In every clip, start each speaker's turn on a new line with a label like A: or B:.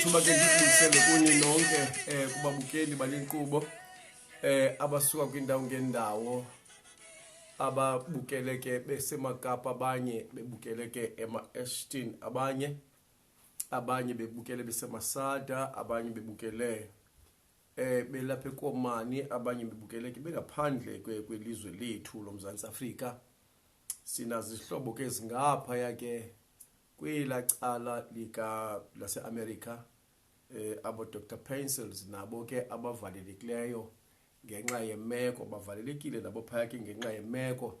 A: ithuba ke ndikulisele kuni nonke um kubabukeli bale nkqubo um eh, abasuka kwiindawo ngeendawo ababukele ke besemakapa abanye bebukele ke ema-ashton abanye abanye bebukele besemasada abanye bebukele eh belapha ekomani abanye bebukele ke bengaphandle kwelizwe lethu lomzantsi afrika sinazo izihlobo ke zingapha yake kwela cala lika laseamerica eh abo dr pencils nabo ke abavalelekileyo ngenxa yemeko bavalelekile nabo phaya ke ngenxa yemeko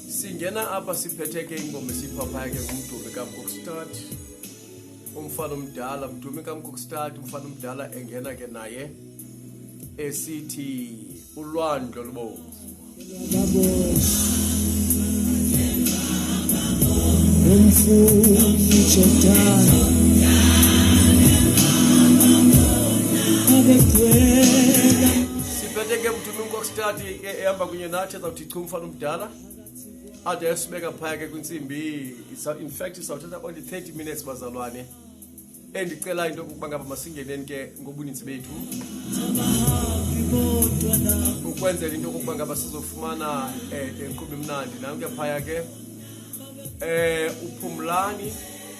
A: singena apha siphethe ke ingoma esiyiphaphaya ke ngumdumi kamkokstad umfana omdala mdumi kamkokstad umfana omdala engena ke naye esithi ulwandlo lubomvu siphethe ke mdumi mkokstad ehamba kunye nathi Chumfana umdala ade esibeka phaya ke kwintsimbi in fact isawuthatha only 30 minutes bazalwane endicelayo into yokuba ngaba masingeneni ke ngobuninzi bethu ukwenzela into yokokuba ngaba sizofumana um inkqubo imnandi nam ke phaya ke um uphumlani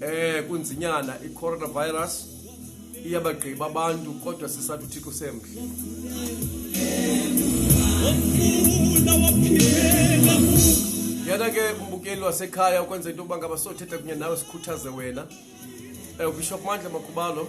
A: eh kunzinyana i-coronavirus iyabagqiba abantu kodwa sisathi uthixo semhle yana ke umbukeli wasekhaya ukwenza into yokuba ngabasothetha kunye nawe sikhuthaze wena um eh, ubishop mandla makhubalo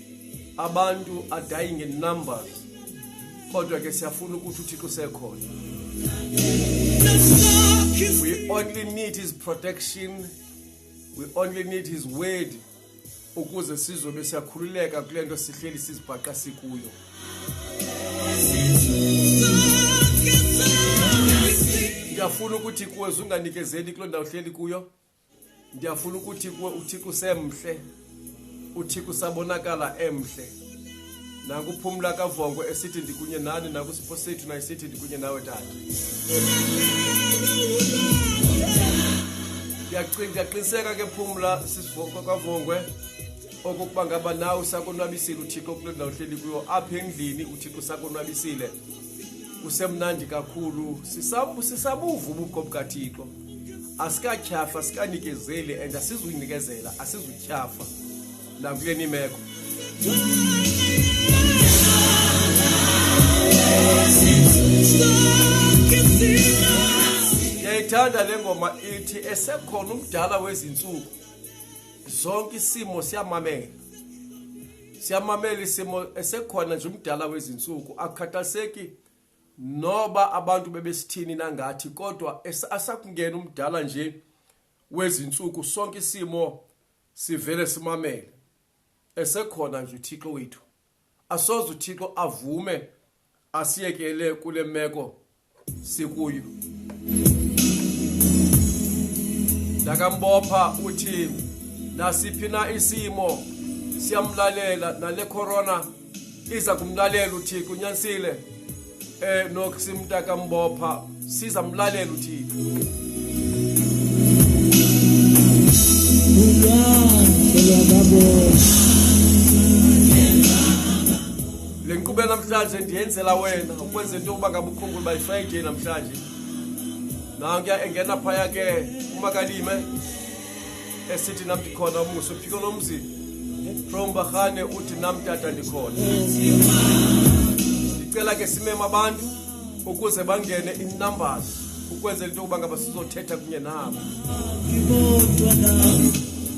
A: abantu are dying in numbers kodwa ke siyafuna ukuthi uthixo usekhona we only need his protection we only need his word ukuze sizobe siyakhululeka kule nto sihleli sizibhaqa sikuyo ndiyafuna ukuthi kuwe zunganikezeli kuloo ndawo hleli kuyo ndiyafuna ukuthi kuwe uthixo usemhle uthixo usabonakala emhle nakuphumla kavongo esithi ndikunye nani nakusipho sethu nayisithi ndikunye nawe tata ndiyaqiniseka ke phumla kwavongwe okokuba ngaba nawe usakonwabisile uthixo kule ndawo hleli kuyo apha endlini uthixo usakonwabisile kusemnandi kakhulu sisabu sisabuvu ubukho bukaThixo asikatyhafa sikanikezeli and asizuyinikezela asizutyhafa nakule nimeko ndiyayithanda le ngoma ithi esekhona umdala wezintsuku zonke isimo siyamamela siyamamela isimo esekhona nje umdala wezintsuku akukhathaliseki noba abantu bebesithini nangathi kodwa asakungena umdala nje wezintsuku sonke isimo sivele simamele esekhona nje uthixo wethu asoze uthixo avume asiyekele kule meko sikuyo ndakambopha uthi nasiphi na isimo siyamlalela nale corona iza kumlalela uthixo unyanisile um eh, nokusimntakambopha siza mlalela uthixo le nkqubo namhlanje ndiyenzela wena ukwenza into yokuba ngaba ukhumbula uba yifriday namhlanje nankuya engena phaya ke umakalime esithi nam ndikhona umuso phiko lomzi from bahane uthi nam tata ndikhona ndicela ke simema abantu ukuze bangene inumbers ukwenzela into yokuba ngaba sizothetha kunye nabo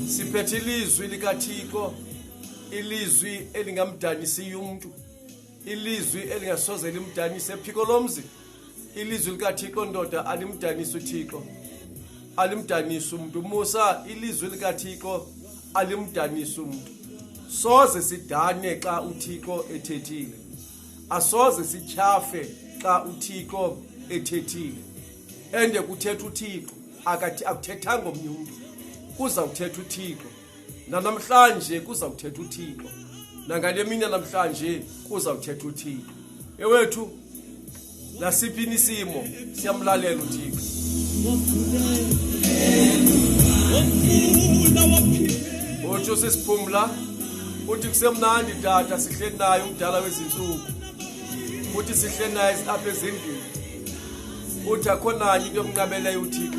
A: siphethe ilizwi likathixo ilizwi elingamdanisiyo umntu ilizwi elingasoze limdanise ephiko lomzi ilizwi likathixo ndoda alimdanisi uthixo alimdanisi umntu musa ilizwi likathixo alimdanisi umntu soze sidane xa uthixo ethethile asoze sityhafe xa uthixo ethethile ende kuthetha uthixo akuthethanga omnye umntu kuza kuthetha uthixo nanamhlanje kuza kuthetha uthixo nangale mini yanamhlanje kuza kuthetha uthixo ewethu nasiphi nisimo siyamlalela uthixo otsho sesiphumla uthi kusemnandi tata sihleli naye umdala wezintsuku uthi sihleli naye apha ezindlini uthi akho nanye into emnqabeleyo uthixo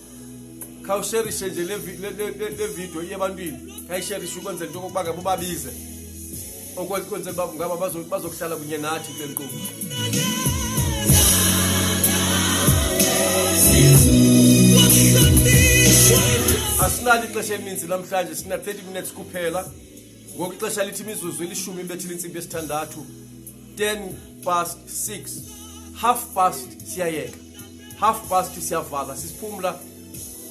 A: khawusherishe nje le video iye ebantwini khayisherishe ukwenzela into okokuba ke bubabize okwenzela uba ngaba bazokuhlala kunye nathi kule nkqubo asinalo ixesha elininzi namhlanje sina-30 minutes kuphela ngoku ixesha lithi imizuzu ilishumi ibethile intsimbi yesithandathu 10 past 6 half past siyayeka half past siyavala sisiphumla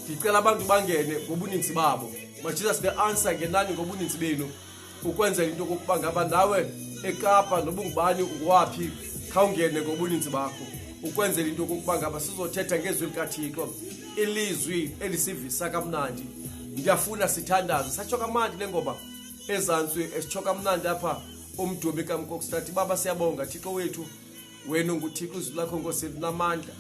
A: ndicela abantu bangene ngobuninzi babo majesus the answer ngenani ngobuninzi benu ukwenzela into yokokuba ngaba nawe ekapa nobungubani ungowaphi khawungene ngobuninzi bakho ukwenzela into yokokuba ngaba sizothetha ngezwi likathixo ilizwi elisivisa kamnandi ndiyafuna sithandaze satsho kamandi le ngoba ezantsi esitsho kamnandi apha umdumi kamkokstati baba siyabonga thixo wethu wena unguthixo izwi lakho nkosi linamandla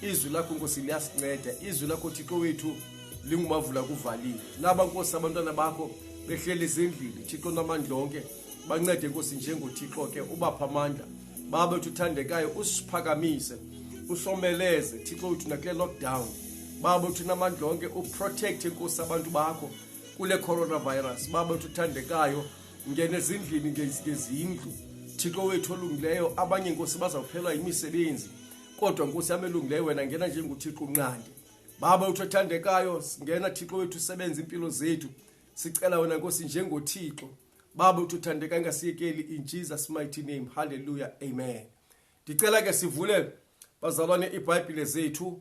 A: izwi lakho nkosi liyasinceda izwi lakho thixo wethu lingumavula kuvalile naba nkosi abantwana bakho behleli ezindlini thixo namandla onke bancede nkosi njengothixo ke ubapha amandla baba wethu uthandekayo usiphakamise usomeleze thixo wethu nakule lockdown baba wethu namandla onke uprotecte nkosi abantu bakho kule coronavirus baba wethu uthandekayo ngena ezindlini ngezindlu thixo wethu olungileyo abanye nkosi bazawuphelwa yimisebenzi kodwa nkosi yam elungileyo wena ngena njengothixo unqande baba wethu othandekayo ngena thixo wethu usebenza impilo zethu sicela wena nkosi njengothixo baba uthuthandeka ingasiyekeli in jesus mighty name halleluya amen ndicela ke sivule bazalwane ibhayibhile zethu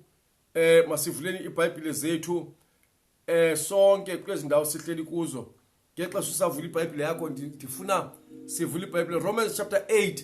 A: eh masivuleni ibhayibhile zethu eh sonke kulezi ndawo sihleli kuzo ngexesha usavula ibhayibhile yakho ndifuna sivule ibhayibhile romans chapter 8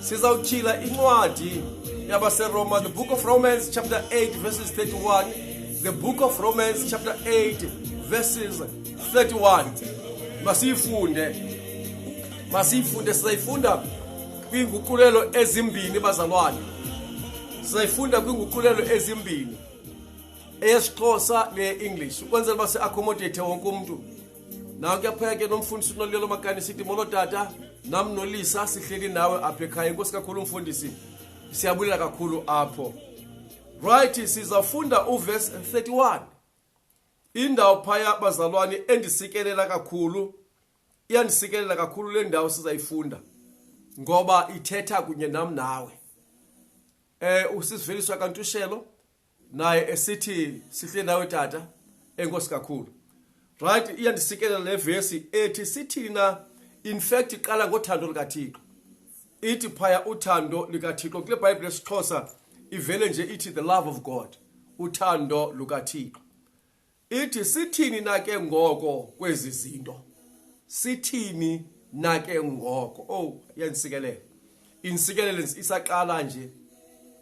A: sizawutyhila incwadi yabaseroma the book of romans chapter 8 verses 31 the book of romans chapter 8 verses 31 masiyifunde masiyifunde sizayifunda kwiinguqulelo ezimbini bazalwane sizayifunda kwiinguqulelo ezimbini eyesixhosa neye-english ukwenzela uba si-accommodate wonke umntu na kuyaphaya ke nomfundisi unolilo lomakani sithi molo tata nam nolisa sihleli nawe apha ekhaya inkosi kakhulu umfundisi siyabulela kakhulu apho right sizafunda uvesi 31 indawo phaya bazalwane endisikelela kakhulu iyandisikelela kakhulu le ndawo sizayifunda ngoba ithetha kunye nam nawe eh usisiveliswa kantushelo naye esithi sihle nawe tata enkosi kakhulu right iyandisikelela le vesi ethi sithini na in fact iqala ngothando likathixo ithi phaya uthando likathixo kule bhayibhile esixhosa ivele nje ithi the love of god uthando lukathixo ithi sithini na ke ngoko kwezi zinto sithini na ke ngoko oh yansikelele insikelele isaqala nje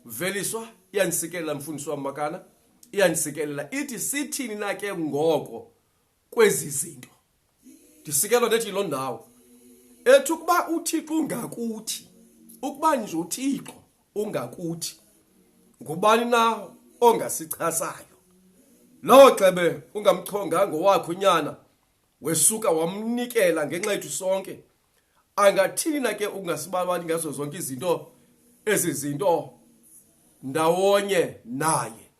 A: veliswa iyanisikelela mfundisi wam makana iyanisikelela ithi sithini na ke ngoko kwezi zinto ndisikelwa ndethi yiloo ndawo ethi ukuba uthixo ungakuthi ukuba nje uthixo ungakuthi ngubani na ongasichasayo lowo xebe ungamchonga ngowakho nyana wesuka wamnikela ngenxa yethu sonke angathini na ke ukungasibalwani ngazo zonke izinto ezi zinto ndawonye naye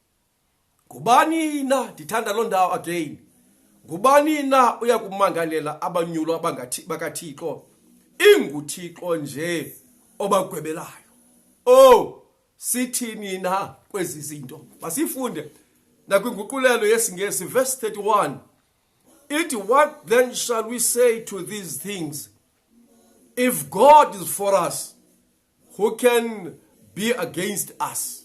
A: ngubani na ndithanda loo ndawo again ngubani na uya kumangalela abanyulo bakathixo inguthixo nje obagwebelayo oh sithini na kwezi zinto masifunde nakwinguqulelo yesingesi verse 31 ithi what then shall we say to these things if god is for us who can be against us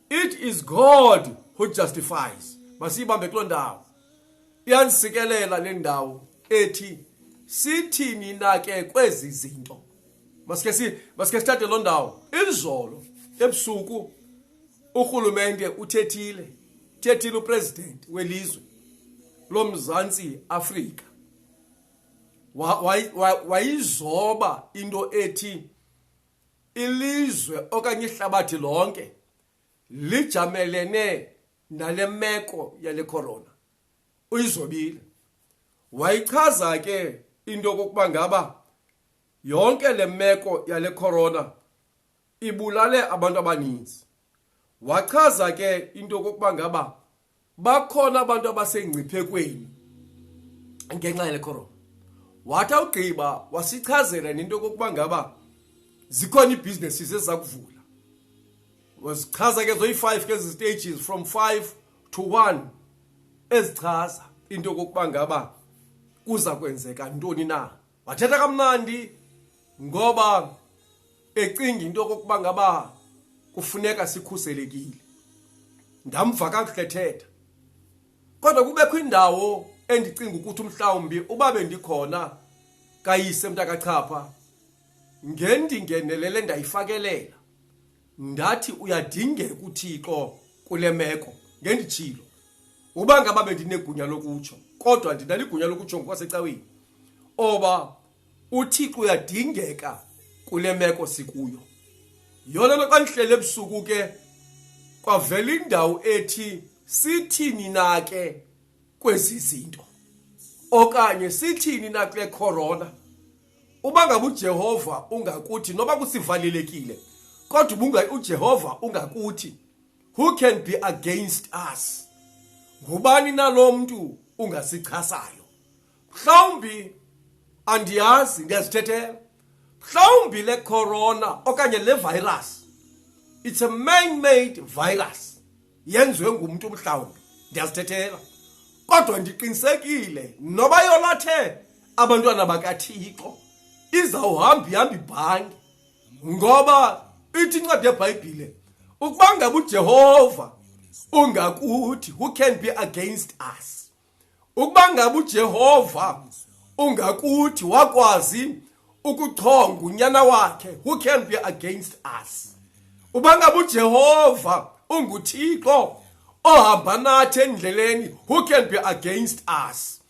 A: it is god who justifies masiyibambe kuloo ndawo iyandisikelela le ndawo ethi sithini na ke kwezi zinto masike si masike sithathe loo ndawo izolo ebusuku urhulumente uthethile thethile upresident welizwe lomzantsi Afrika wayizoba into ethi ilizwe okanye ihlabathi lonke lijamelene nale meko yale corona uyizobile wayichaza ke into yokokuba ngaba yonke le meko yale corona ibulale abantu abaninzi wachaza ke into yokokuba ngaba bakhona abantu abasengciphekweni ngenxa yale corona wathi awugqiba wasichazela nento yokokuba ngaba zikhona iibhizinesis eziza kuvula wazichaza ke zoyi-five ke ezi stages from five to one ezichaza into yokokuba ngaba kuza kwenzeka ntoni na wathetha kamnandi ngoba ecinga into kokuba ngaba kufuneka sikhuselekile ndamva kakuhle thetha kodwa kubekho indawo endicinga ukuthi umhlawumbi uba bendikhona kayise mntakachapha ngendingenelele ndayifakelela ndathi uyadingeka uthixo kule meko ngenditshilo uba ngaba bendinegunya lokutsho kodwa ndinaligunya lokutsho ngokwasecaweni oba uthixo uyadingeka kule meko sikuyo yona nto xa ndihlele ebusuku ke kwavela indawo ethi sithini na ke kwezi zinto okanye sithini na kule corona uba ngabe ujehova ungakuthi noba kusivalelekile kodwa ubunga ujehova ungakuthi Who can be against us? Ngubani na lo mntu ungasichasayo? Mhlawumbi andiyazi ndiyazithethela. Mhlawumbi le corona okanye le virus it's a man made virus yenziwe ngumntu mhlawumbi ndiyazithethela. Kodwa ndiqinisekile noba yolathe abantwana bakaThixo izawuhamba ihamba ibhange ngoba ithi incwadi yebhayibhile ukuba ngaba ujehova ungakuthi who can be against us ukuba ngaba ujehova ungakuthi wakwazi ukuchonga unyana wakhe who can be against us uba ngaba ujehova unguthixo ohamba nathi endleleni who can be against us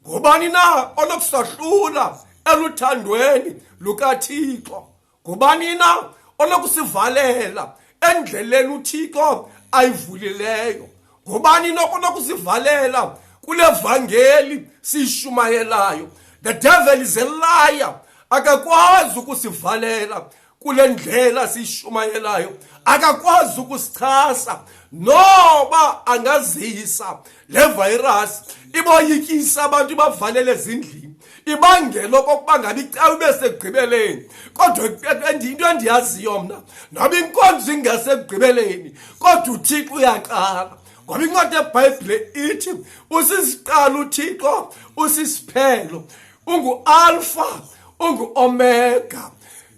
A: ngubani na onokusahlula eluthandweni lukathixo ngubani na onokusivalela endleleni uthixo ayivulileyo ngubani nokunokusivalela kule vangeli siyishumayelayo the devil is a liar akakwazi ukusivalela kule ndlela siyishumayelayo akakwazi ukusichasa noba angazisa le virus iboyikisa abantu ibavalele ezindlini ibangela okokuba ngabi cawe ibe sekugqibeleni kodwa into endiyaziyo mna noba inkonzo ingasekugqibeleni kodwa uthixo uyaqala ngoba incwadi yebhayibhile ithi usisiqala uthixo usisiphelo ungualfa unguomega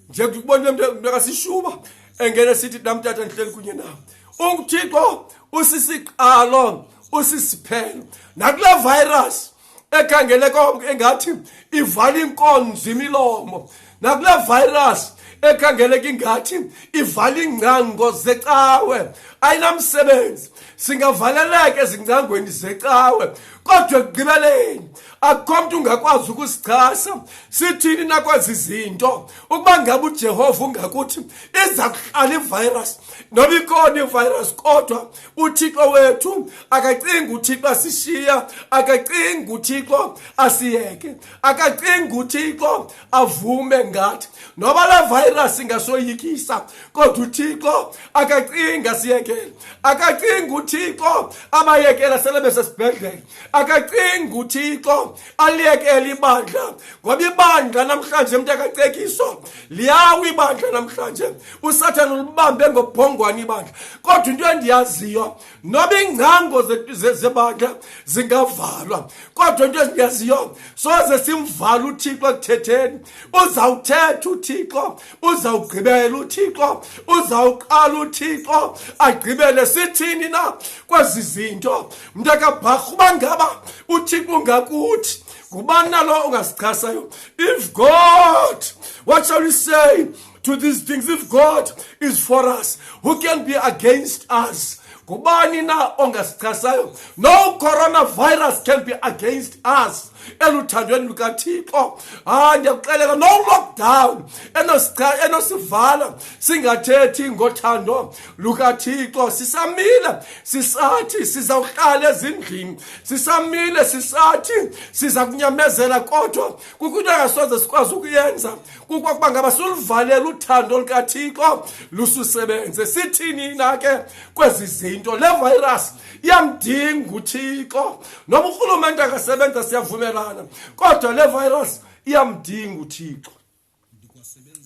A: nje kubona mntakasishuba engene sithi namtata ndihleli kunye nawo unguthixo usisiqalo usisiphelo nakule virus ekhangele konke engathi ivala inkonzo imilomo nakule virus ekhangeleka ingathi ivala iingcango zecawe ayinamsebenzi singavaleleka ezingcangweni zecawe kodwa ekugqibeleni akukho mntu ungakwazi ukusichasa sithini nakwezi zinto ukuba ngabe ujehova ungakuthi iza kuhlala ivirus noba ikhona ivirus kodwa uthixo wethu akacingi uthixo asishiya akacingi uthixo asiyeke akacingi uthixo avume ngathi noba la virus ingasoyikisa kodwa uthixo akacinga siyekele akacinga uthixo abayekela sele besesibhedlele akacinga uthixo aliyekele ibandla ngoba ibandla namhlanje mntu akacekiso liyawa ibandla namhlanje usathane ulibambe ngobhongwane ibandla kodwa into endiyaziyo noba iingcango zebandla zingavalwa kodwa into ezinyaziyo soze simvala uthixo ekuthetheni uzawuthetha uthixo uzawugqibela uthixo uzawuqala uthixo agqibele sithini na kwezi zinto mntakabharha uba ngaba uthixo ungakuthi ngubani nalo ungasichasayo if god what shall we say to these things if god is for us who can be against us ngubani na ongasichasayo no coronavirus can be against us eluthandweni lukathixo hayi ndiyakuxeleka no lockdown enosivala singathethi ngothando lukathixo sisamile sisathi sizawuhlala ezindlini sisamile sisathi siza kunyamezela kodwa kukho into angasoze sikwazi ukuyenza kukwakuba ngaba suluvalela uthando lukathixo lususebenze sithini na ke kwezi zinto le virus iyamdinga uthixo noba urhulumente akasebenza siyavumelana kodwa le virus iyamdinga uthixo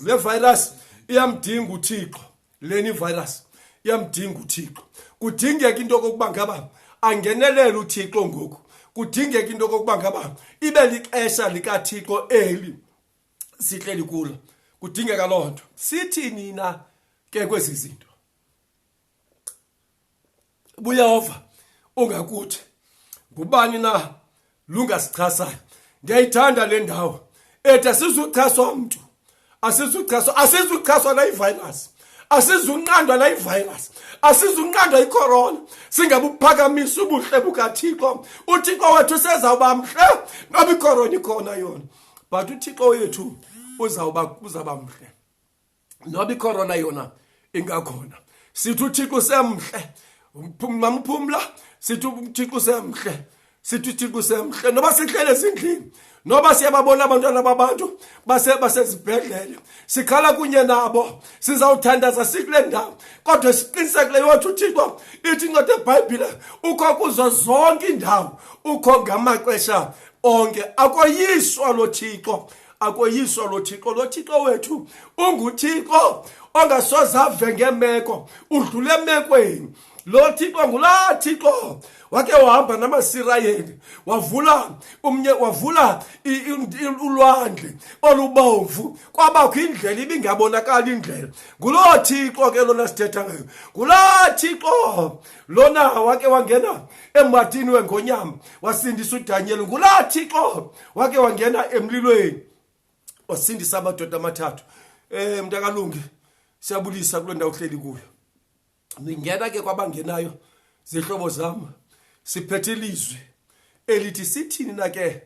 A: le virus iyamdinga uthixo leni virus iyamdinga uthixo kudingeka into kokuba ngaba angenelele uthixo ngoku kudingeka into kokuba ngaba ibe lixesha likathixo eli sihleli kulo kudingeka loo nto sithini na ke kwezi zinto buyehova ungakuthi ngubani na lungasichasayo ndiyayithanda le ndawo ethi asizuchaswa mntu asizuchaswa asizuchaswa nayivirus asizunqandwa la ivirus asizunqandwa icorona singabuphakamisa ubuhle bukathixo uthixo wethu sezawuba mhle noba icorona ikhona yona but uthixo wethu uzawuba uzawuba mhle noba ikhorona yona ingakhona sithi uthixo usemhle mamphumla sithi uthixo usemhle sithi uthixo usemhle noba sihlele esindlini noba siyababona abantwana babantu basezibhedlele sikhala kunye nabo sizawuthandaza sikule ndawo kodwa siqinisekileyo wathi uthixo ithi incwadi ebhayibhile ukho kuzo zonke iindawo ukho ngamaxesha onke akoyiswa lo thixo akoyiswa lo thixo lo thixo wethu unguthixo ongasoze ave ngemeko udlule emekweni lo thixo ngulaa thixo wake wahamba namasirayeli wavula umnye wavula ulwandle olubomvu kwabakho indlela ibingabonakali indlela nguloo thixo ke lona sithetha ngayo ngulaa thixo lona wake wangena embatini wengonyama wasindisa udanyeli ngulaa thixo wake wangena emlilweni wasindisa amadoda amathathu um mntakalungi siyabulisa kule ndawo uhleli kuyo ndingena ke kwabangenayo zihlobo zam siphethe ilizwi elithi sithini na ke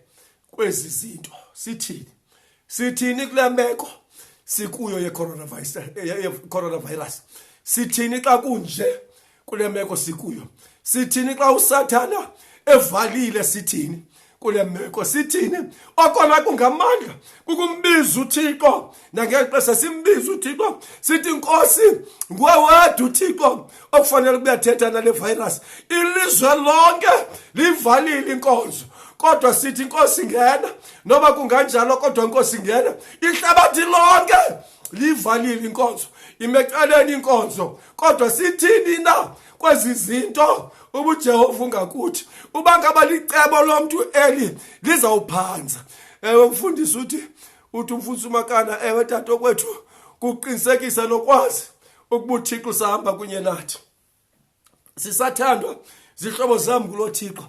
A: kwezi zinto sithini sithini kule meko sikuyo yecoronavirus coronavirus sithini xa kunje kule meko sikuyo sithini xa usathana evalile sithini kule meko sithini okona kungamandla kukumbiza uthixo nangeli xesha simbiza uthixo sithi nkosi nguwe wedwa uthixo okufanele kube yathetha nale virus ilizwe lonke livalile inkonzo kodwa sithi inkosi ngena noba kunganjalo kodwa inkosi ngena ihlabathi lonke livalile inkonzo imecaleni inkonzo kodwa sithini na kwezi zinto ubujehova ungakuthi uba ngaba licebo lomntu eli lizawuphanza ewe mfundisi uthi uthi umfundisi umakana ewe tato kwethu kuqinisekisa nokwazi ukuba uthixo usahamba kunye nathi sisathandwa zihlobo zam kulo thixo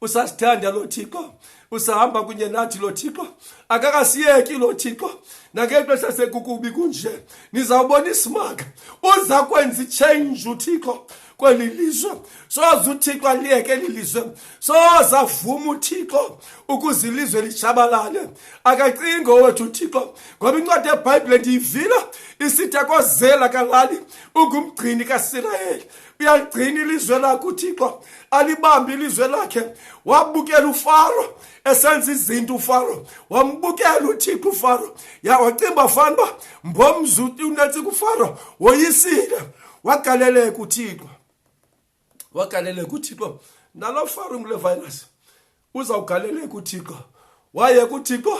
A: usasithanda lo thixo usahamba kunye nathi lo thixo akakasiyeki lo thixo nangexesha sekukubi kunje nizawubona isimanga uza kwenza ichange uthixo kweli lizwe soze uthixo aliyeke eli lizwe soze avuma uthixo ukuze ilizwe lishabalale akacingo wethu uthixo ngoba incwadi yebhayibhile ndiyivila isithi akozela kalali ungumgcini kasirayeli uyaligcina ilizwe lakhe uthixo alibambe ilizwe lakhe wabukela ufaro esenza izinto ufaro wambukela uthixo ufaro yawacimba fana uba mbomzuti unetsika ufaro woyisile wagaleleka uthixo wagaleleka uthixo nalo faro ngule virus uzawugaleleka uthixo waye kuthixo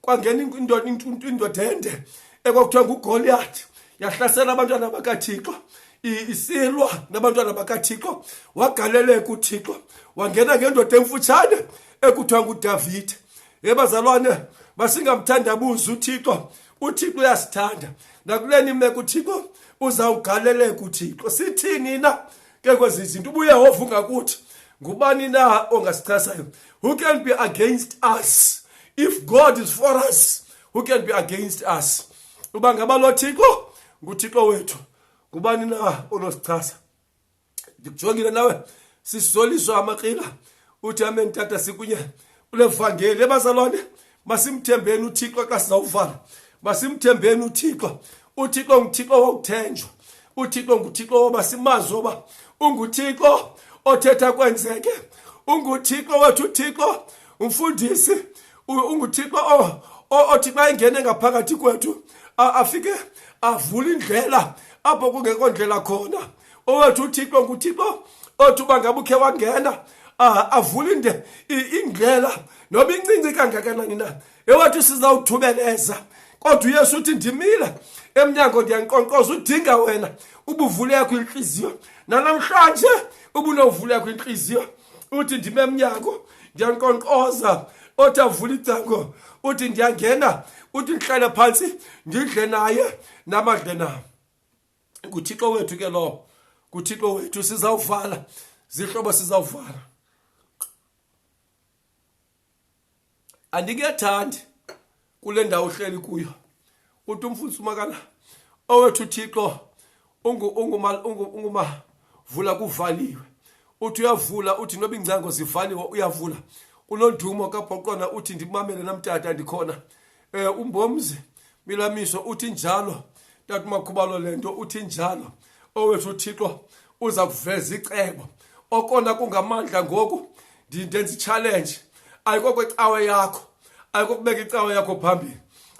A: kwangena indoda ende ekwakuthiwa ngugoliyathi yahlasela abantwana bakathixo isilwa nabantwana bakathixo wagaleleka uthixo wangena ngendoda emfutshane ekuthiwa ngudavide ebazalwane basingamthandabuzi uthixo uthixo uyasithanda nakule nimeko uthixo uzawugaleleka uthixo sithini na ke kwezi zinto ubuyehova ungakuthi ngubani na ongasichasayo who can be against us if god is for us who can be against us uba ngaba lo thixo nguthixo wethu ngubani na onosichasa ndikujongile nawe sisoliswa amakrila uthi amen tata sikunye kule vangeli ebazalwane masimthembeni uthixo xa sizawuvala masimthembeni uthixo uthixo nguthixo wokuthenjwa uthixo nguthixo woba simazi oba unguthixo othetha kwenzeke unguthixo wethu uthixo umfundisi unguthixo othi xa engene ngaphakathi kwethu afike avule indlela apho kungekho ndlela khona owethu uthixo nguthixo othi uba ngabe ukhe wangena avule inde indlela noba incinci kangakanani na ewathi sizawuthubeleza kodwa uyesu uthi ndimile emnyango ndiyanqonqoza udinga wena ubuvulekho intliziyo nanamhlanje ubunovulekho intliziyo uthi ndime emnyango ndiyanqonqoza othi avule icango uthi ndiyangena uthi ndihlale phantsi ndidle naye namadle nam nguthixo wethu ke lowo nguthixo wethu sizawuvala zihlobo sizawuvala andikuyathandi kule ndawo uhleli kuyo uthi umfundisi umakana owethu uthixo ungumavula kuvaliwe uthi uyavula uthi noba iingcango zivaliwe uyavula unondumo kabhoqona uthi ndimamele namtata ndikhona eh umbomzi milamiso uthi njalo tata makhubalo lento uthi njalo owethu uthixo uza kuveza icebo okona kungamandla ngoku ndenza ichallenge ayikoko icawa yakho ayikokubeka icawa yakho phambili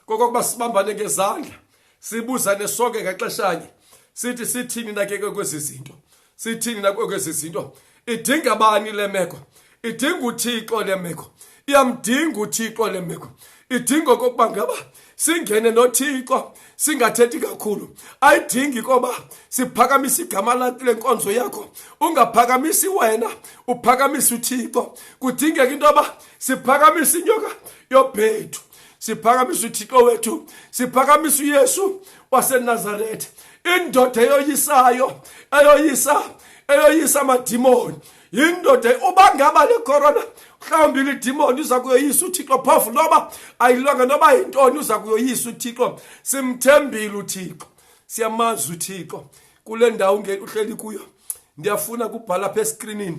A: kokokuba sibambane ngezandla sibuzane sonke ngexeshanye sithi sithini nakeke kwezi zinto sithini nakwekho ezi zinto idinga bani le meko idinga uthixo le meko iyamdinga uthixo le meko idinga okokuba ngaba singene nothixo singathethi kakhulu ayidingi koba siphakamise igama lakho le nkonzo yakho ungaphakamisi wena uphakamisa uthixo kudingeka into yoba siphakamise inyoka yobhethu siphakamisa uthixo wethu siphakamisa uyesu wasenazaretha indoda eyoyisayo eyoyisa eyoyisa amadimoni yindoda uba ngaba le corona mhlawumbi lidimoni uza kuyoyisa uthixo phofu noba ayilwanga noba yintoni uza kuyoyisa uthixo simthembile uthixo siyamazi uthixo kule ndawo uhleli kuyo ndiyafuna kubhala pha eskrinini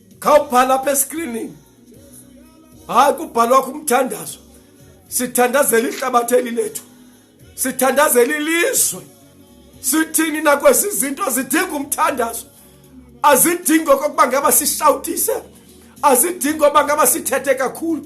A: khawubhala apha eskrinini hayi kubhalwa kumthandazo sithandazela ihlabathi eli lethu sithandazela ilizwe sithini nakwesi zinto zidinga umthandazo azidingi okokuba ngaba sishawutise azidingi oba ngaba sithethe kakhulu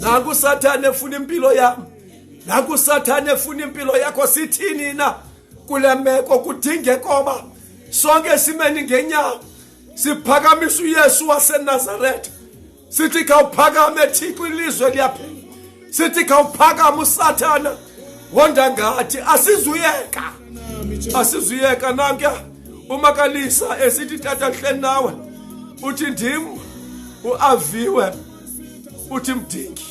A: nakusathane efuna impilo yam nakusathane efuna impilo yakho sithini na kule meko kudingekoba sonke simeni ngenyawo siphakamisa uyesu wasenazaretha sithi khawuphakame thixo ilizwe liyaphela sithi khawuphakame usathana wonda ngathi asizuyeka asizuyeka nankuya umakalisa esithi tata hleni nawe uthi ndim uaviwe uthi mdingi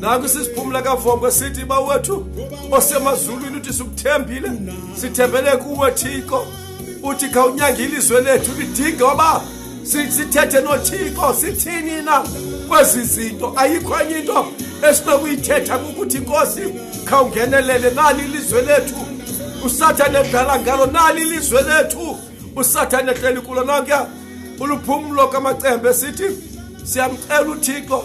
A: naku sisiphumla kavombo sithi bawethu osemazulwini uthi sikuthembile sithembele kuwe thixo uthi khawunyanga ilizwe lethu lidinge oba sithethe nothixo sithini na kwezi zinto ayikho enye into esinokuyithetha kukuthi nkosi khawungenelele nali ilizwe lethu usathane edlala ngalo nali ilizwe lethu usathane ehleli kulo nonke uluphumlo kamacembe sithi siyamcela uthixo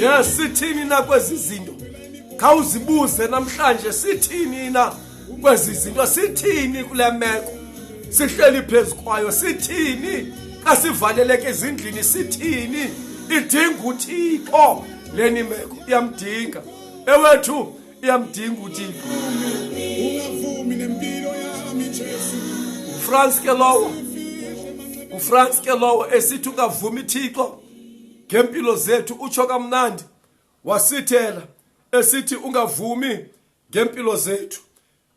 A: yes sithini na kwezi zinto khawuzibuze namhlanje sithini na kwezi zinto sithini kule meko sihleli phezu kwayo sithini kasivaleleke ezindlini sithini idinga uthixo leni meko iyamdinga ewethu uyamdinga uthixo ungavumi nempilo yami jesu ufrance ke lowo ufrance ke lowo esithi ungavumi thixo ngempilo zethu utsho kamnandi wasithela esithi ungavumi ngempilo zethu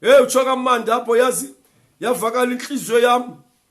A: hey utsho kamandi apho yazi yavakala inhliziyo yam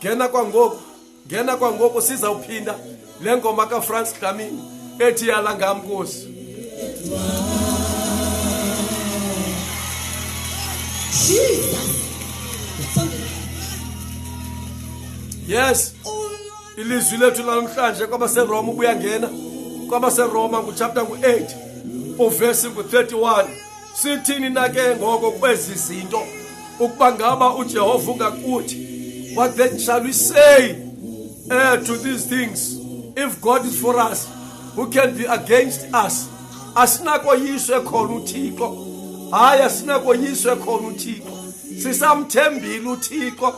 A: ngena kwangoku ngena kwangoku sizawuphinda le ngoma kafrance dlamini ethi yala ngam nkosi yes ilizwi lethu lanamhlanje kwabaseroma ubuyangena kwabaseroma nguchapter ngu-8 uvesi ngu-31 Sithini na ke ngoko kwezi zinto ukuba ngaba uJehova ungakuthi what then shall we say uh, to these things if God is for us who can be against us asinakoyiswe khona uThixo hayi asinakoyiswe khona uThixo sisamthembile uThixo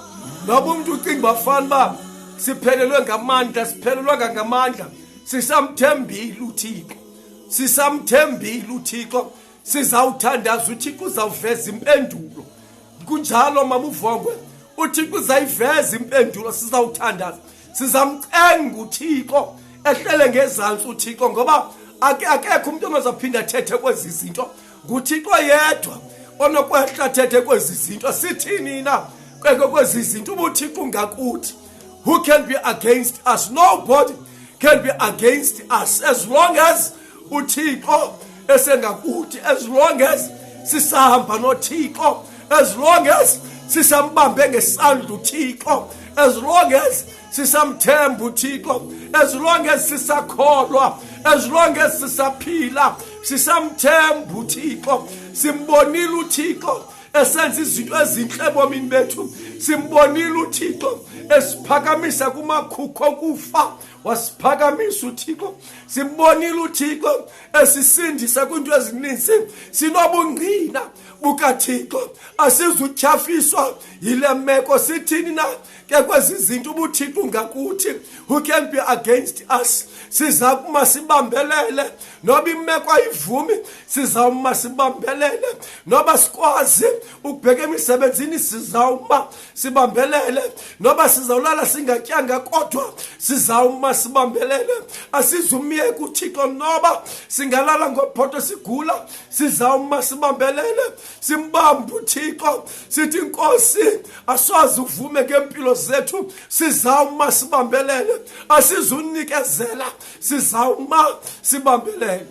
A: noba umuntu ucinga bafana ba siphelelwe ngamandla siphelelwa ngamandla sisamthembile uThixo sisamthembile uthixo sizawuthandaza uthixo uzawuveza impendulo kunjalo mamuvongwe uthixo uzayiveza impendulo sizawuthandaza sizamcenga uthixo ehlele ngezantsi uthixo ngoba akekho umntu ongazaphinda athethe kwezi zinto nguthixo yedwa onokwehlathethwe kwezi zinto sithini na kweke kwezi zinto ubuthixo ungakuthi who can be against us nobody can be against us as long as uthixo esengakuthi as long as sisahamba nothixo as long as sisambambe ngesandla uthixo as long as sisamthemba uthixo as long as sisakholwa as long as sisaphila sisamthemba uthixo simbonile uthixo esenza izinto ezinhle ebomini bethu simbonile uthixo esiphakamisa kumakhukho okufa wasiphakamisa uthixo simbonile uthixo esisindisa kwiinto ezininzi sinobungqina bukathixo asizutyhafiswa yile meko sithini na ke kwezi zinto ubuthixo ngakuthi who can be against us siza kuma sibambelele noba imeko ayivumi sizawuma sibambelele noba sikwazi ukubheka emisebenzini sizawuma sibambelele noba sizawulala singatyanga kodwa sizawuma sibambelele asizumyeka uthixo noba singalala ngophoto sigula sizawuma sibambelele simbamba uthixo sithi nkosi asoze uvume ngempilo zethu sizawuma sibambelele asizunikezela sizawuma sibambelele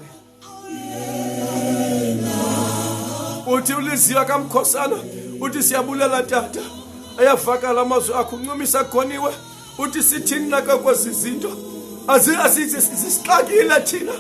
A: uthi uliziwa kamkhosana uthi siyabulela tata ayavakala amazwi akho uncumisa khoniwe uthi sithini naka kwezi zinto azisixakile thina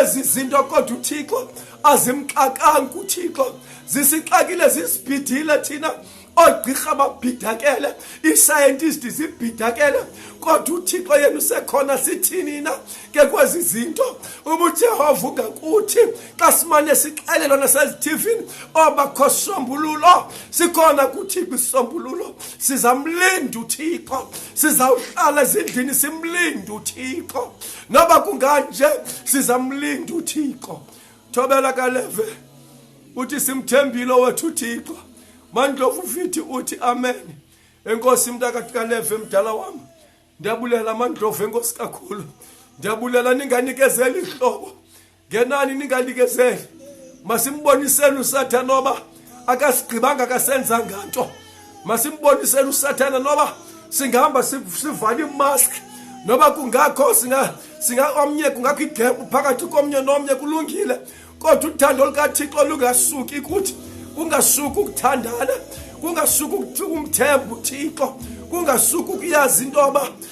A: ezi zinto kodwa uthixo azimxakanga kuthixo zisixakile zisibhidile thina oogqirha babhidakele iisayentisti zibhidakele kodwa uthixo yena usekhona sithini na ke kwezi zinto uba ujehova ungakuthi xa simane sixelelwa nasezithivini obakho sombululo sikhona kuthixo isombululo sizamlinda uthixo sizawuhlala ezindlini simlinda uthixo noba kunganje sizamlinda uthixo thobela kaleve uthi simthembile owethu uthixo mandlovu fithi uthi amen enkosi mntakathi kaleve mdala wam ndiyabulela mandlovu enkosi kakhulu ndiyabulela ninganikezeli hlobo ngenani ningalikezeli masimboniseni usathana noba akasigqibanga akasenza nganto masimboniseni usathana noba singahamba sivale imask noba kungakho omnye kungakho igempu phakathi komnye nomnye kulungile kodwa uthando lukathixo lungasuki kuthi kungasuki ukuthandana kungasuki umthemba uthixo kungasuki ukuyazi into yoba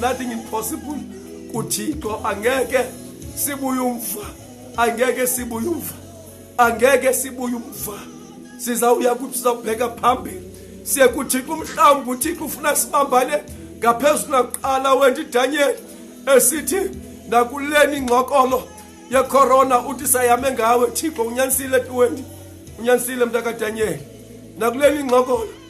A: nothing impossible kuthixo angeke sibuye umva angeke sibuye umva angeke sibuye umva sizawuya kuthi sizawubheka phambili siye kuthixo umhlawumbi uthixo ufuna sibambane ngaphezulu nakuqala wena idanyeli esithi nakuleni ingxokolo yekhorona uthi sayame ngawe thixo unyanisile tuwendi unyanisile mntakadanyeli nakuleni ingxokolo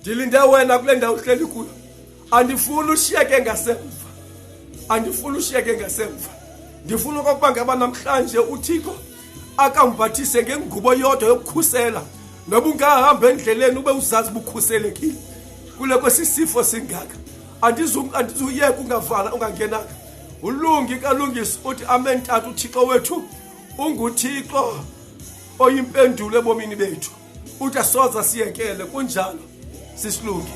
A: ndilinde wena kule ndawo uhleli kuyo andifuni ushiyeke ngasemva andifuni ushiyeke ngasemva ndifuna okokuba ngaba namhlanje uthixo akambathise ngengubo yodwa yokukhusela noba ungahamba endleleni ube uzazi bukhuselekile kule kwesisifo singaka andizuyeka ungavala ungangenanga ulungi kalungisi uthi amen tata uthixo wethu unguthixo oyimpendulo ebomini bethu uthi asoza siyekele kunjalo sisilungi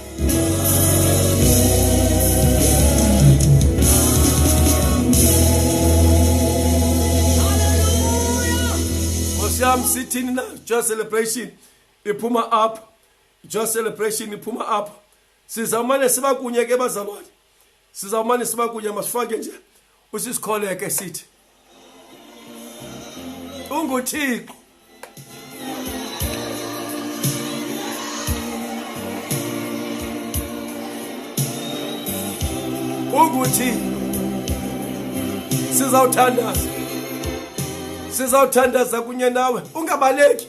A: yam sithini na joy celebration iphuma apho joy celebration iphuma apho sizawumane siba kunye ke bazalwane sizawumane siba kunye masifake nje usisikholeke sithi unguthixo ukuthi sizawuthandaza sizawuthandaza kunye nawe ungabaleki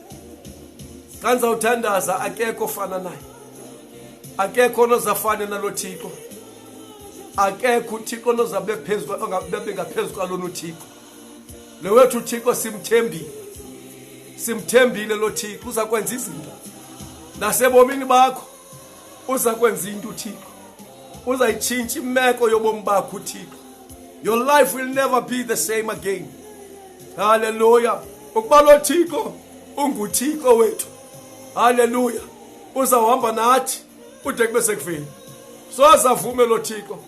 A: xa ndizawuthandaza akekho ofana naye akekho onozafane nalo thixo akekho uthixo onozabe ngaphezu kwalona uthixo le wethu uthixo simthembile simthembile lo thixo uza kwenza izinto nasebomini bakho uza kwenza into uthixo uzayitshintsha imeko yobomi bakho uthixo your life will never be the same again haleluya ukuba lo thixo unguthixo wethu haleluya uzawuhamba nathi ude kube sekuveni sozavume lo thixo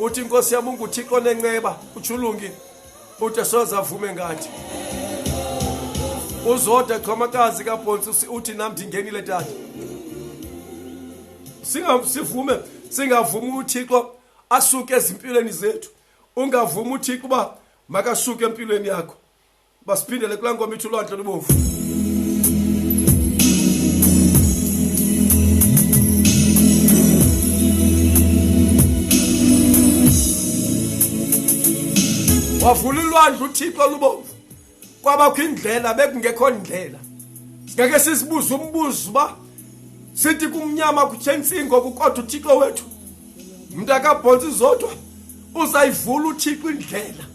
A: uthi inkosi yam unguthixo onenceba utshulungi ude soze avume ngathi uzode xhomakazi kabhontsi uthi nam ndingenile tata sivume singavumi uthixo asuke ezimpilweni zethu ungavumi uthixo uba makasuke empilweni yakho basiphindele kulaa ngoma ithi ulwandle lubomvu wavula ulwandle uthixo lubomvu kwabakho indlela bekungekho ndlela ngeke sisibuze umbuzo uba sithi kumnyama kutshentsingo kukodwa uthixo wethu mntakabhontsi zodwa uzayivula uthixo indlela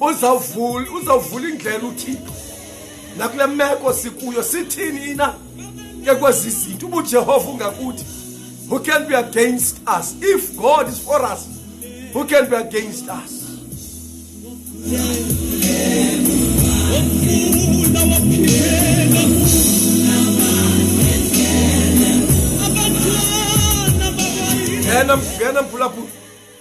A: uzawuvula uzawuvula indlela uthixo nakule meko sikuyo sithini na ke kwezi zinto uba ujehova ungakuthi who can be against us if god is for us who can be against us ngena ngena mphulaphula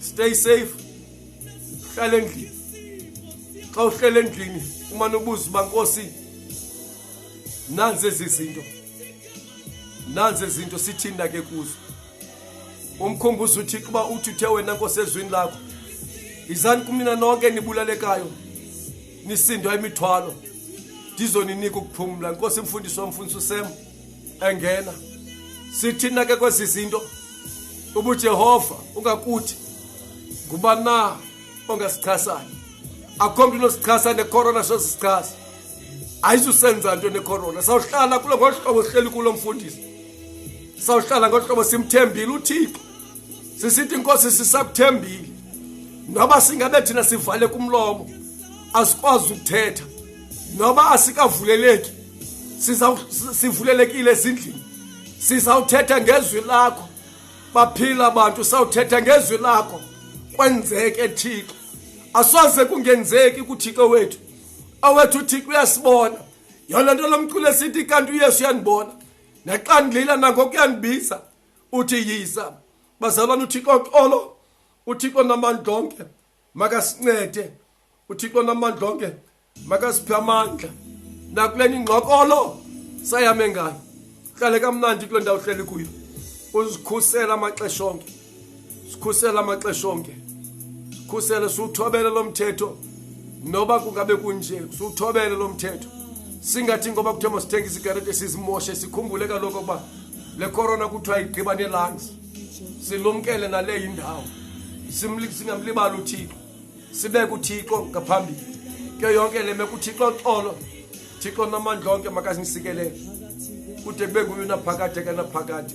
A: stay safe hlala endlini xa uhlele endlini umane ubuza uba nkosi nanzi ezi zinto nanzi ezi zinto sithinda ke kuzo umkhumbuzo uthixo uba uthi uthe wena nkosi ezwini lakho yizani kumnina nonke nibulalekayo nisindwa imithwalo ndizoninika ukuphumla nkosi mfundisi wamfundisi usema engena sithina ke kwezi zinto ubujehova ungakuthi nguba na ongasichasayo akho mntu unosichasa nekorona sosichasa ayizusenza nto nekorona sawuhlala kulo ngolu hlobo sihleli kulo mfundisi sawuhlala ngolu hlobo simthembile uthixo sisithi inkosi sisakuthembile noba singabe thina sivale kumlomo asikwazi ukuthetha noba asikavuleleki sivulelekile ezindlini sizawuthetha ngezwi lakho baphila abantu sawuthetha ngezwi lakho kwenzeke thixo asoze kungenzeki kuthixo wethu awethu uthixo uyasibona yona nto lomculo esithi kanti uyesu uyandibona naxa ndilila nangokuyandibiza uthi yiza bazalwana uthixo xolo uthixo namandla onke makasincede uthixo namandla onke makasiphe amandla nakule ningxokolo sayame ngayo hlale kamnandi kule ndawo hleli kuyo uzikhusela amaxesha onke sikhusela amaxesha onke sikhusele siwuthobele lo mthetho noba kungabe kunje siwuthobele lo mthetho singathi ngoba kuthiwa masithenge isigarete sizimoshe sikhumbule kaloku ukuba le corona kuthiwa igqiba nelangs silumkele naleyo indawo singamlibali uthixo sibeke uthixo ngaphambili ke yonke le meko uthixo xolo thixo namandla onke makasinisikele kude kube nguye unaphakade kanaphakade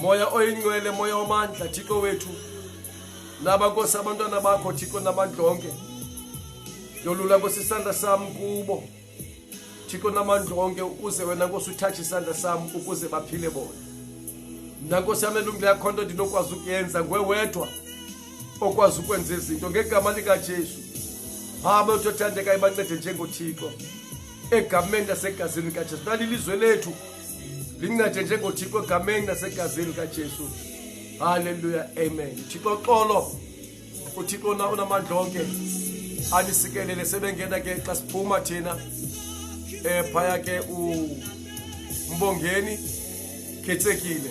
A: moya oyingcwele moya wamandla thixo wethu naba nkosi abantwana bakho thixo namandla onke yolula nkosi isandla sam kubo thixo namandla onke ukuze wena nkosi uthatshe isandla sam ukuze baphile bona mna nkosi yam elungile yakho nto ndinokwazi ukuyenza ngwe wedwa okwazi ukwenza izinto ngegama likajesu hamba utothandekayo bancede njengothixo egamendi asegazini kajesu nalilizwe lethu lincede njengothixo egameni nasegazini kajesu halleluya amen thixo xolo uthixo na unamandla onke anisikelele sebengena ke xa siphuma thina um phaya ke umbongeni khethekile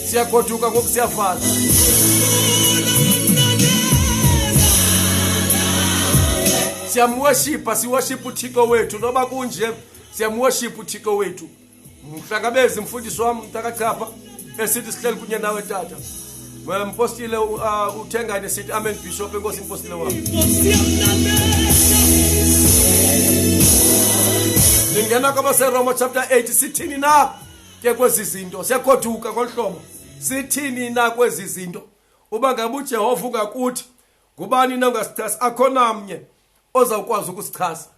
A: siyagoduka ngoku siyafana siyamwoshipa siwoshipa uthixo wethu noba kunje siyamwoshipa uthixo wethu mhlangabezi mfundisi wam mntakachapha esithi sihleli kunye nawe tata mpostile uh, uthengane sithi amen bishop enkosi mpostile wam lingena kwabaseroma chapter 8 sithini na ke kwezi zinto sekhoduka ngolu hlobo sithini na kwezi zinto uba ngabe ujehova ungakuthi ngubani na ungasichasa akho namnye ozawukwazi ukusichasa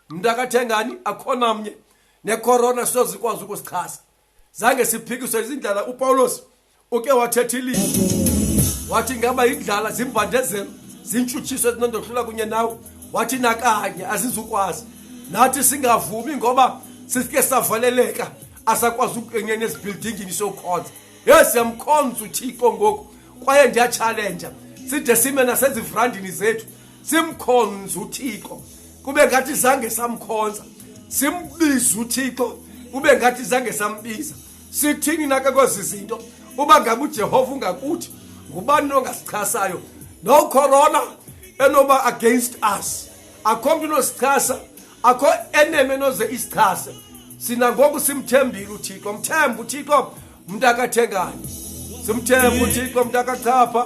A: mntu akathengani akho namnye nekorona sizozikwazi ukusichasa zange siphikiswe izindlela upawulos uke wathetha ilizwi wathi ngaba indlala zimbandezelo zintshutshiso ezinondohlula kunye nawe wathi nakanye azizukwazi nathi singavumi ngoba sisike savaleleka asakwazi ukungena ezibhildingini sokhonza ye siyamkhonza uthixo ngoku kwaye ndiyatshalenja side sime nasezivrandini zethu simkhonza uthixo kube ngathi zange samkhonza simbize uthixo kube ngathi zange sambiza sithini nake kwezi zinto uba ngabe ujehova ungakuthi ngubani nongasichasayo no corona enoba against us akho mntu unosichasa akho eneme noze isichase sina ngoku simthembile uthixo mthembe uthixo mntu akathengane simthembe uthixo mntu akachapha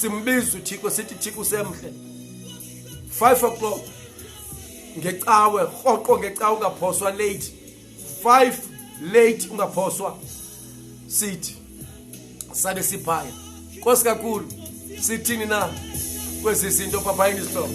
A: simbiza uthixo sithi thixo usemhle five o'clock ngecawe rhoqo ngecawe ungaphoswa late five late ungaphoswa sithi sabe siphaya nkosi kakhulu sithini na kwezi zinto phaphayini isihlobo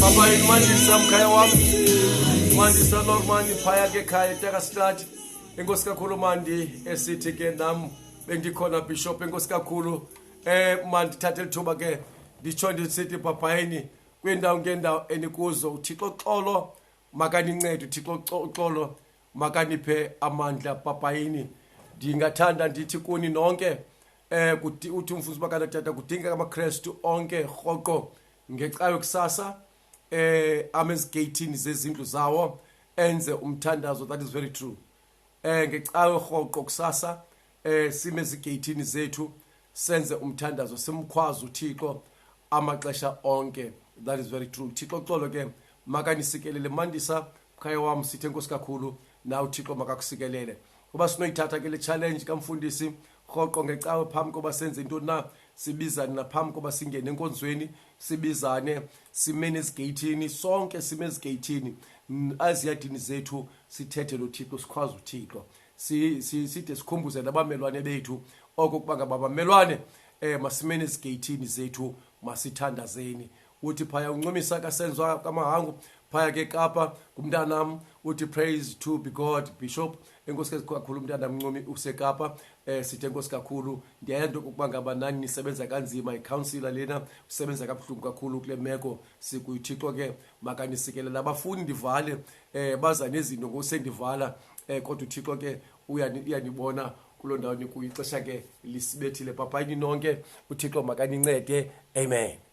A: Papa, mandisa mkhaya wami mandisa lord mani phaya ke khaya tekastrati enkosi kakhulu mandi esithi ke nam bendikhona bishop enkosi kakhulu eh mandithathe lithuba ke nditsho ndisithi bhabhayini kwiindawo ngeendawo enikuzo uthixo xolo makanincede uthixo xolo makaniphe amandla bhabhayini ndingathanda ndithi kuni nonke eh uthi umfundisi bakatata kudingeka amakrestu onke rhoqo ngecayo kusasa eh amezigeyithini zezindlu zawo enze umthandazo that is very true eh ngecayo rhoqo kusasa eh sime ezigeyithini zethu senze umthandazo simkhwaza uthixo amaxesha onke that is very true thixo xolo ke makanisikelele mandisa mkhaya wam sithe nkosi kakhulu na uthixo makakusikelele uba sinoyithatha ke le challenge kamfundisi rhoqo ngecawe phambi koba senze intoni na sibizane naphambi koba singene enkonzweni sibizane simene ezigeyithini sonke sime ezigeyithini aziyadini zethu sithethe lo thixo sikhwaze uthixo side sikhumbuze nabamelwane bethu oko kuba ngaba bamelwane um masimene ezigeyithini zethu masithandazeni uthi phaya uncumisa kasenziwa kamahangu phaya ke kapa kumntanam uthi praise to be god bishop enkosikazi kakhulu umntana mncumi usekapa eh sithe nkosi kakhulu ndiyayento ukuba ngaba nani nisebenza kanzima ikhawunsila lena usebenza kabuhlungu kakhulu kule meko sikuyithixo ke makanisikelele abafuni ndivale eh baza nezinto ngosendivala eh kodwa uthixo ke uyanibona kuloo ndawo nikuyo ixesha ke lisibethile papayini nonke uthixo makanincede amen